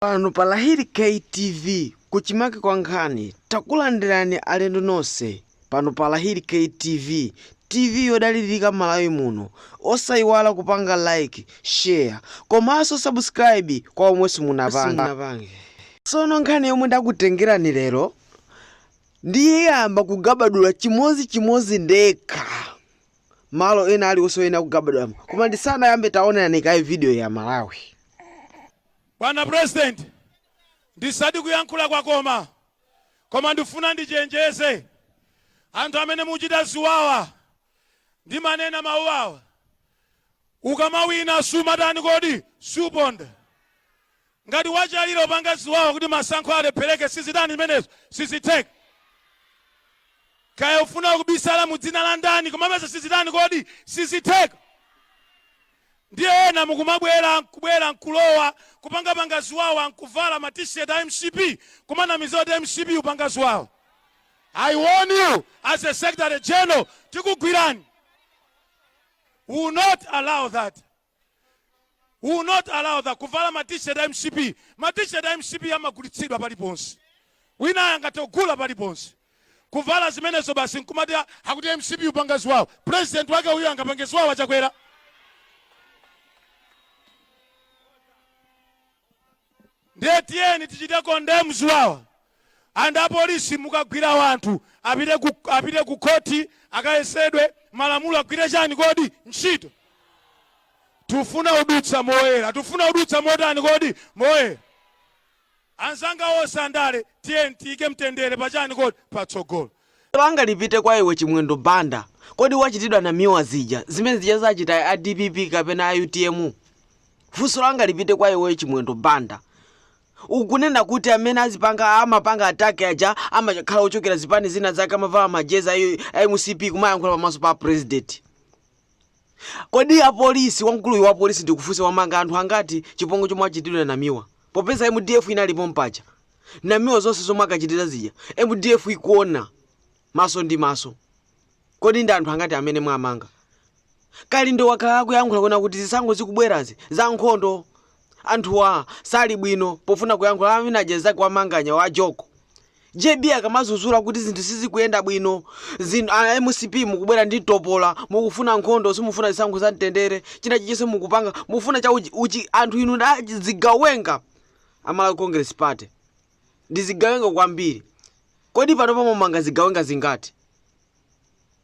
Pano pa Lahiri K TV kuchimake kwa nkhani takulandirani alendo nonse pano pa Lahiri K TV, TV yodalirika Malawi muno. Osaiwala kupanga like, share komanso subscribe kwa omwe simunapange. Tsono nkhani yomwe ndakutengerani lero ndiyiyamba kugabadula chimozi chimozi ndekha malo ena aliwonse oyenera kugabadula koma ndisanayambe taonani kaye video ya malawi bwana president ndisadye kuyankhula kwakoma koma ndifuna ndichenjeze anthu amene muchita ziwawa ndimanena mawu awa ukamawina sumatani kodi suponda Ngati wachalira upanga ziwawa kuti masankho alephereke sizitani zimenezo sizitheka. Kaya ufuna kubisala mu dzina la ndani koma sizitani kodi sizitheka. Ndiye ena mukumabwera nkubwera nkulowa kupanga panga ziwawa nkuvala ma T-shirt a mcp kumanamizira kuti mcp upanga ziwawa. I warn you as a secretary general tikugwirani. We will not allow that. We will not allow that kuvala ma t-shirt a mcp ma t-shirt a mcp amagulitsidwa paliponse winayo angathe ugula paliponse kuvala zimenezo basi nkumati "Ah, akuti mcp upanga ziwawa president wake uyu angapange ziwawa chakwera Ndiye tiyeni tichite condemn ziwawa and apolisi mukagwira anthu apite ku apite ku khoti akayesedwe malamulo agwire chani kodi ntchito. Tufuna udutsa moyera tufuna udutsa motani kodi moyera. Anzanga onse andale tiyeni tiyike mtendere pachani kodi patsogolo. Langa lipite kwa iwe Chimwendo Banda kodi wachitidwa Namiwa zija zimene zija zachita a dpp kapena a utm? Funso langa lipite kwa iweyo Chimwendo Banda ukunena kuti amene azipanga amapanga attack aja amakhala ochokera zipani zina zake amavala majezi a mcp kumayankhula pamaso pa a president. Kodi apolisi wamkuluyu wapolisi ndikufunse mwamanga anthu angati chipongwe chomwe achitidwa a Namiwa? Popeza mdf inali pompaja Namiwa zonse zomwe akachitidwa zija mdf ikuona maso ndi maso kodi ndi anthu angati amene mwamanga? Kalindo wakhala akuyankhula kunena kuti zisankho zikubwerazi za nkhondo Anthuwa sali bwino pofuna kuyankhula amene aja nzake wa manganya wa Joko. JB akamadzudzula kuti zinthu sizikuyenda bwino, zin, a mcp mukubwera ndi mtopola, mukufuna nkhondo, simufuna zisankho za mtendere, china chilichonse mukupanga, mufuna cha uchi, uchi anthu inu ndi zigawenga a Malawi Congress Party. Ndi zigawenga kwambiri. Kodi pano mwamanga zigawenga zingati?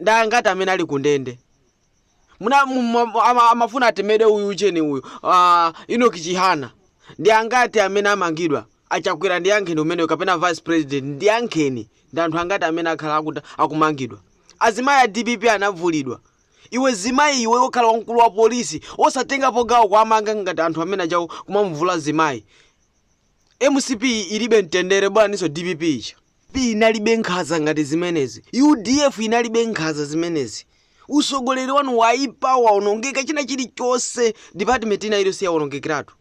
ndi angati amene ali kundende Muna- mu- mu- ama- amafuna atemedwe uyu ucheni uyu ah, Enoch Chihana ndi angati amene amangidwa a Chakwera ndiyankheni umeneyo kapena vice president ndiyankheni ndi anthu angati amene akhala akuta akumangidwa azimayi a dpp anavulidwa iwe zimayi iwe okhala wamkulu wa polisi osatengapo gawo kuwamanga ngati anthu amene ajawo kumamuvula zimayi Mcp ilibe mtendere bwaninso dpp ija. Dpp inalibe nkhaza ngati zimenezi udf inalibe nkhaza zimenezi usogoleri wanu waipa waonongeka china chilichonse department ina iliyonse yaonongekeratu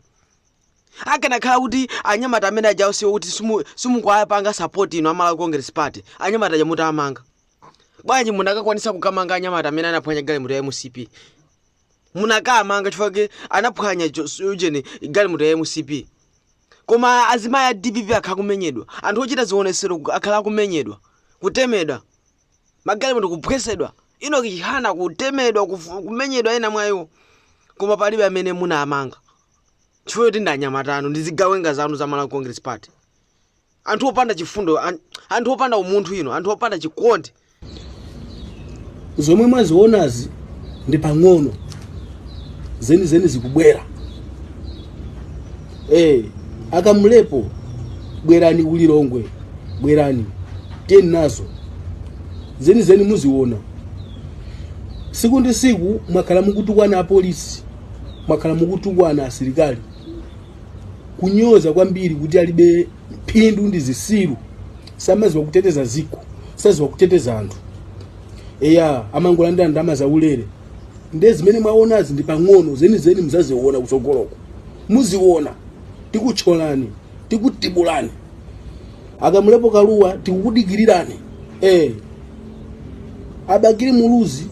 akanakhala kuti anyamata amene aja osiwa kuti simu- simukuwapanga support inu a Malawi congress party anyamata aja mutawamanga bwanji munakakwanisa kukamanga anyamata amene anaphwanya galimoto ya mcp munakawamanga chifukwa chake anaphwanya jo- s- ujeni galimoto ya mcp koma azimayi a dpp akhala kumenyedwa anthu ochita zionesero ku- akhala akumenyedwa kutemedwa magalimoto kuphwesedwa Enoch Chihana kutemedwa kufu- kumenyedwa ena mwa iwo koma palibe amene munawamanga chifukwa choti ndi anyamata anu ndi zigawenga zanu za malawi congress party Anthu opanda chifundo, anthu opanda umunthu inu, anthu opanda chikondi. Zomwe mwazionazi ndi pang'ono, zenizeni zikubwera. Hey, eh, a Kamlepo bwerani ku Lilongwe bwerani tiyeni nazo zenizeni muziona siku ndi siku mwakhala mukutukwana apolisi mwakhala mukutukwana asilikali kunyoza kwambiri kuti alibe phindu ndi zisiru samaziwa kuteteza ziko saziwa kuteteza anthu eya amangolandira ndalama zaulere nde zimene mwaonazi ndi pang'ono zenizeni muzaziona kutsogoloko muziona tikutcholani tikutibulani a Kamlepo Kaluwa tikukudikirirani eh a Bakili Muluzi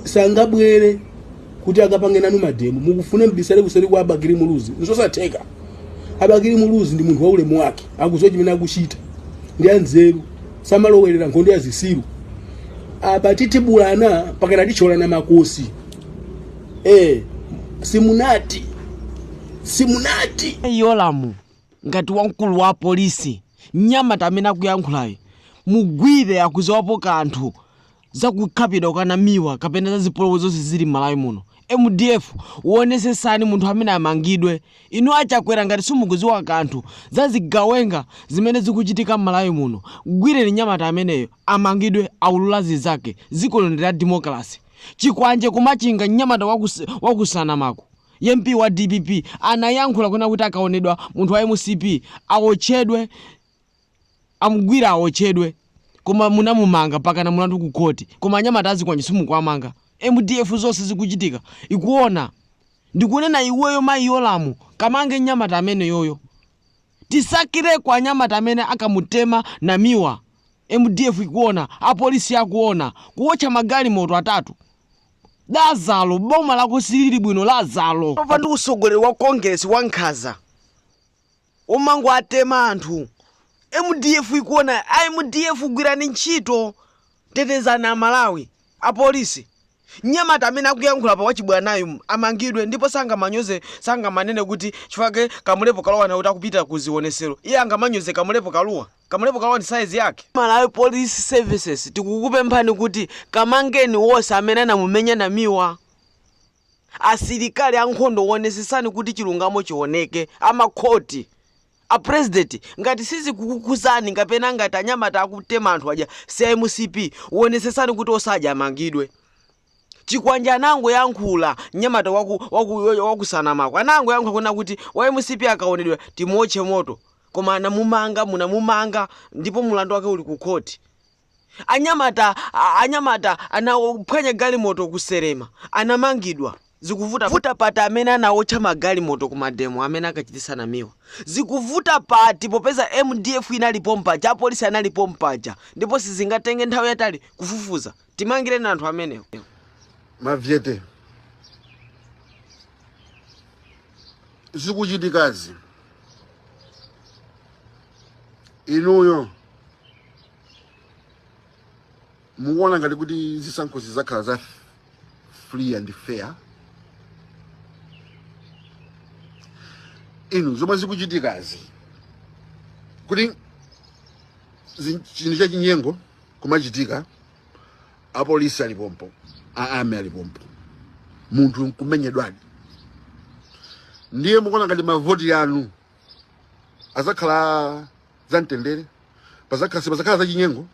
sangabwere kuti akapange nanu mademo mukufuna mubisale kuseri kwa Bakili Muluzi nzosatheka a Bakili Muluzi ndi munthu waulemu wake akuziwa chimene akuchita ndi anzeru samalowerera nkhondo ya zisiru apa titibulana mpakana ticholana makosi eh simunati simunati Yolamu ngati wamkulu wa polisi mnyamata amene akuyankhulayo mugwire akuziwapo kanthu za kukhapidwa kwa Namiwa kapena za zipolowe zonse zili mmalawi muno mdf wonesesani munthu ameneyu amangidwe inu a Chakwera ngati simukuziwa kanthu za zigawenga zimene zikuchitika mmalawi muno gwireni nyamata ameneyo amangidwe aulula azinzake dziko lino ndi la demokalase chikwanje ku Machinga nyamata wakus- wakusanamako mp wa dpp anayankhula kunena kuti akaonedwa munthu wa mcp aotchedwe amugwira awotchedwe koma munamumanga mpakana mulandu ku court koma anyamata azikwanje simukuwamanga mdf zonse zikuchitika ikuona ndikunena iweyo mayi yolamu kamange nyamata ameneyoyo tisakireko anyamata amene akamutema namiwa mdf ikuona apolisi akuona kuwotcha magalimoto atatu lazaro boma lako silili bwino lazaro papa ndi usogoleri wa kongeresi wa nkhaza omangowatema anthu mdf ikuona a mdf gwirani ntchito tetezani amalawi apolisi mnyamata amene akuyankhula pa wachibwanayu amangidwe ndipo sangamanyoze sangamanene kuti chifukwa chake kamulepo kaluwa nkuti akupita ku zionesero iye angamanyoze kamulepo kaluwa kamulepo kaluwa ndi size yake malawi police services tikukupemphani kuti kamangeni wonse amene anamumenya namiwa asilikali ankhondo wonesesani kuti chilungamo chioneke, amakhoti, apresident ngati sizikukukhuzani kapena ngati anyamata akutema anthu aja si a mcp wonesesani kuti ose aja amangidwe. chikhala anangoyankhula nyamata wakusanamako anangoyankhula kunena kuti wa mcp akaonedwa timuotche moto koma anamumanga munamumanga ndipo mulandu wake uli ku khoti. Anyamata anyamata anaphwanya galimoto ku Serema anamangidwa. Zikuvuta pati amene anaotcha magalimoto ku mademo amene akachititsa Namiwa? Zikuvuta pati popeza mdf inali pompaja, apolisi anali pompaja ndipo sizingatenge nthawi yatali kufufuza? Timangireni anthu amenewo. Mavyete zikuchitikazi inuyo mukuona ngati kuti zisankho zidzakhala za free and fair inu zomwe zikuchitikazi kuti zi- chinthu cha chinyengo kumachitika apolisi ali pompo a army ali pompo munthu nkumenyedwadi ndiye mukuona ngati mavoti yanu azakhala za mtendere pazakhala sipazakhala za chinyengo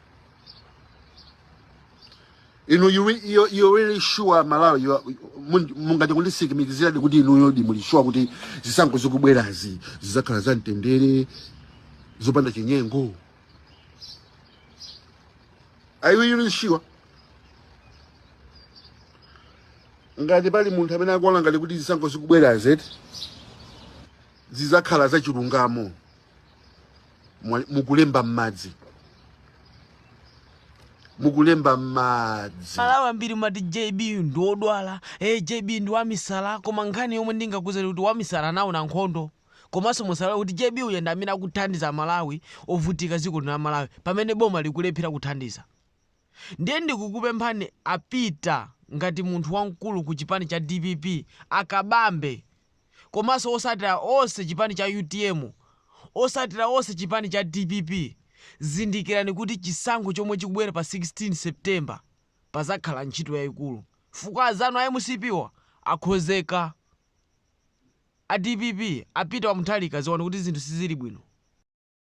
inu you, re- you, you really sure malawi you are- mun- mungati kundisikimikiziradi kuti inuyo ndi muli sure kuti zisankho zikubwerazi zizakhala za mtendere zopanda chinyengo are you really sure ngati pali munthu amene akuona ngati kuti zisankho zikubwerazi eti zizakhala za chilungamo Mwa- mukulemba mmadzi mukulemba mmadzi amalawi ambiri amati jb ndi wodwala e jb ndi wamisala koma nkhani yomwe ndingakuuzeni nkuti wamisala anaona nkhondo komanso musaiwale kuti jb uyu ndi amene akuthandiza amalawi ovutika dziko lino la malawi pamene boma likulephera kuthandiza Ndiye ndikukupemphani a Peter ngati munthu wamkulu ku chipani cha dpp, a Kabambe komanso osatira onse chipani cha utm, osatira onse chipani cha dpp zindikirani kuti chisankho chomwe chikubwera pa 16 September pazakhala ntchito yaikulu chifukwa azanu a mcp wa akonzeka. A dpp a Peter wa Mutharika ziwani kuti zinthu sizili bwino.